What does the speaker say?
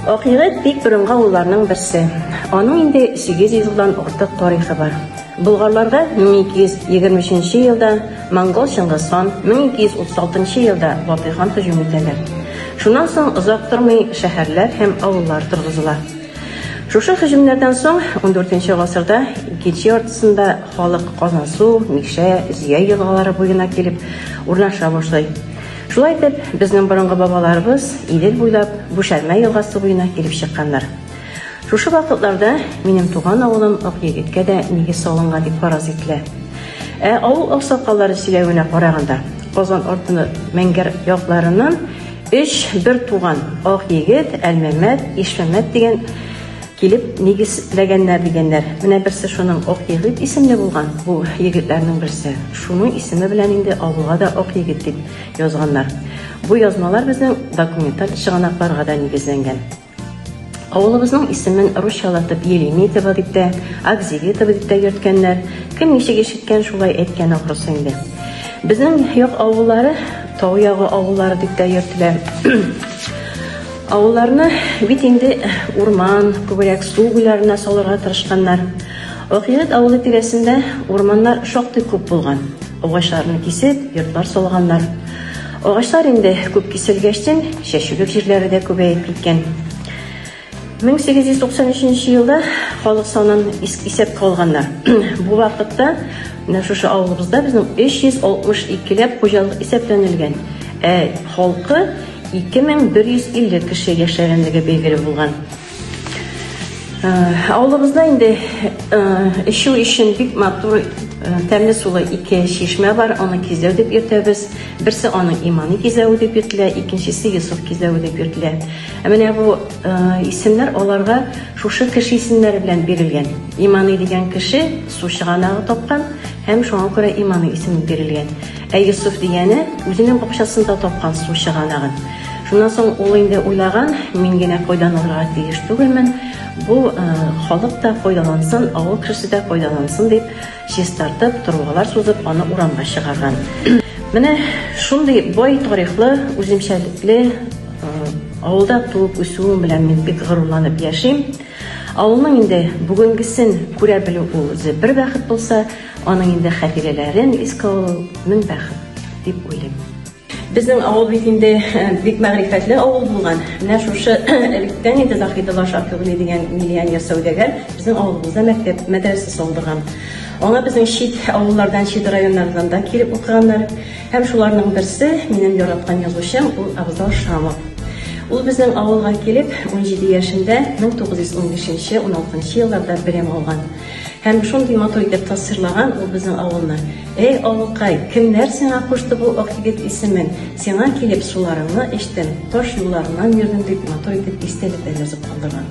Ак егет бик борынгы авылларның берсе. Аның инде 800 елдан артык тарихы бар. Болгарларга 1223 елда монгол Чыңгыз хан, 1236 елда Батый хан һөҗүм итәләр. Шуннан соң озак тормый шәһәрләр һәм авыллар торгызыла. Шушы һөҗүмнәрдән соң 14 гасырда икенче яртысында халык Казансу, Мишә, Зөя елгалары буена килеп урнаша башлый. Шулай итеп, безнең борынгы бабаларыбыз Идел буйлап Бүшәрмә елгасы буена килеп чыкканнар. Шушы вакытларда минем туган авылым Акъегеткә дә нигез салынган дип фараз ителә. Ә авыл аксакаллары сөйләвенә караганда, Казан артыны Мәңгәр якларыннан өч бер туган Акъегет, Әлмәмәт, Ишмәмәт дигән Килеп нигез ләгәннәр дигәннәр. Менә берсе шуның Ак егет исемле булган, бу егетләрнең берсе. Шуның исеме белән инде авылга да Ак егет дип язганнар. Бу язмалар безнең документаль чыганакларга да нигезләнгән. Авылыбызның исемен русчалатып Елемитово дип тә, Акзилитово дип тә йөрткәннәр. Кем ничек ишеткән, шулай әйткән ахрысы инде. Безнең як авыллары Тау ягы авыллары дип тә йөртелә. Авылларны бит инде урман, күбрәк су буйларына салырга тырышканнар. Акыйрәт авылы тирәсендә урманнар шактый күп булган. Агачларны кисеп, йортлар салганнар. Агачлар инде күп киселгәчтен, чәчүлек җирләре дә күбәеп киткән. 1893 елда халык санын исәпкә алганнар. Бу вакытта менә шушы авылыбызда безнең 362 ләп хуҗалык исәпләнелгән. Ә халкы 2150 кеше яшәгәнлеге билгеле булган. Авылыбызда инде эчү өчен бик матур тәмле сулы ике чишмә бар, аны кизәү дип йөртәбез. Берсе аның иманы кизәве дип йөртелә, икенчесе Йосыф кизәве дип йөртелә. Ә менә бу исемнәр аларга шушы кеше исемнәре белән бирелгән. Иманы дигән кеше су чыганагы тапкан һәм шуңа күрә Иманы исеме бирелгән. Ә Йосыф дигәне үзенең бакчасында тапкан су чыганагын. Шуннан соң ул инде уйлаган, мин генә файдаланырга тиеш түгелмен, бу э, халык та файдалансын, авыл кешесе дә файдалансын дип, чистартып, трубалар сузып, аны урамга чыгарган. Менә шундый бай тарихлы, үземчәлекле э, авылда туып үсүем белән мин бик горурланып яшим. Авылның инде бүгенгесен күрә белү ул үзе бер бәхет булса, Аның инде хатирәләрен искә алу мең бәхет дип уйлыйм. Безнең авыл бит инде бик мәгърифәтле авыл булган. Менә шушы электән инде Заһидова Шафигли дигән миллионер сәүдәгәр безнең авылыбызда мәктәп мәдрәсә салдырган. Аңа безнең чит авыллардан, чит районнардан да килеп укыганнар. Һәм шуларның берсе, минем яраткан язучым, ул Абзал Шамов. Ул безнең авылга килеп, 17 яшендә 1915-16 елларда белем алган. Һәм шундый матур итеп тасвирлаган ул безнең авылны. Эй, авылкай, кемнәр сиңа кушты бу ак егет исемен? Сиңа килеп суларыңны эчтем, таш юлларыннан йөрдем, дип матур итеп истәлекләр язып калдырган.